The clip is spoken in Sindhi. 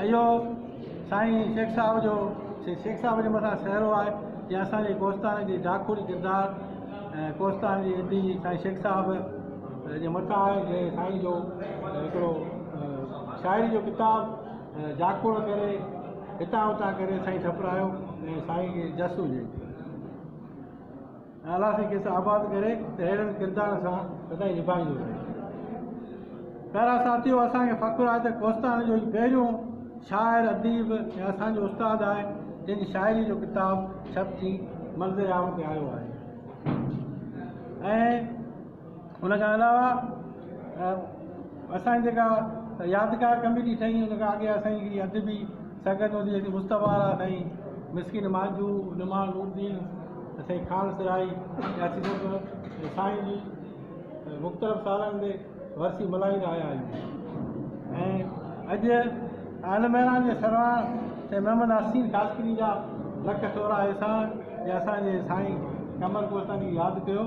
اهو سائين شيخ صاحب جو سي شيخ صاحب جي مٿان سهرو آهي جنهن اسان جي ڪوستان جي ڊاکوڙي ڪردار ۽ ڪوستان جي ادي سائين شيخ صاحب جي مٿان آهي جنهن سائين جو هڪڙو شاعري جو ڪتاب جاکوڙ ڪري هتان هتان ڪري سائين ٺپرايو ۽ سائين کي جس هجي الله سائين کيس آباد ڪري ته اهڙن ڪردارن سان سدائين نڀائيندو رهي. پيارا ساٿيو اسان کي فخر آهي ته ڪوستاڻي جو هي پهريون شاعر اديب ۽ اسان جو استاد آهي جنهن جي شاعري جو ڪتاب ڇپجي منظر عام تي آيو آهي ۽ ان کان علاوه اسان جي جيڪا يادگار ڪميٽي ٺهي ان کان اڳي اسان جي ادبي سنگت هوندي هئي مصطفيٰ وارا سائين مسڪين مانجهو نما نوردين سائين خان سرائي يا سيد سائين جي مختلف سالن تي ورسي ملهائيندا آيا آهيون ۽ اڄ آل ميران جي سرواڻ سائين محمد حسين خاصخيلي جا لک ٿورا احسان جي اسان جي سائين قمر ڪوسٽاني ياد ڪيو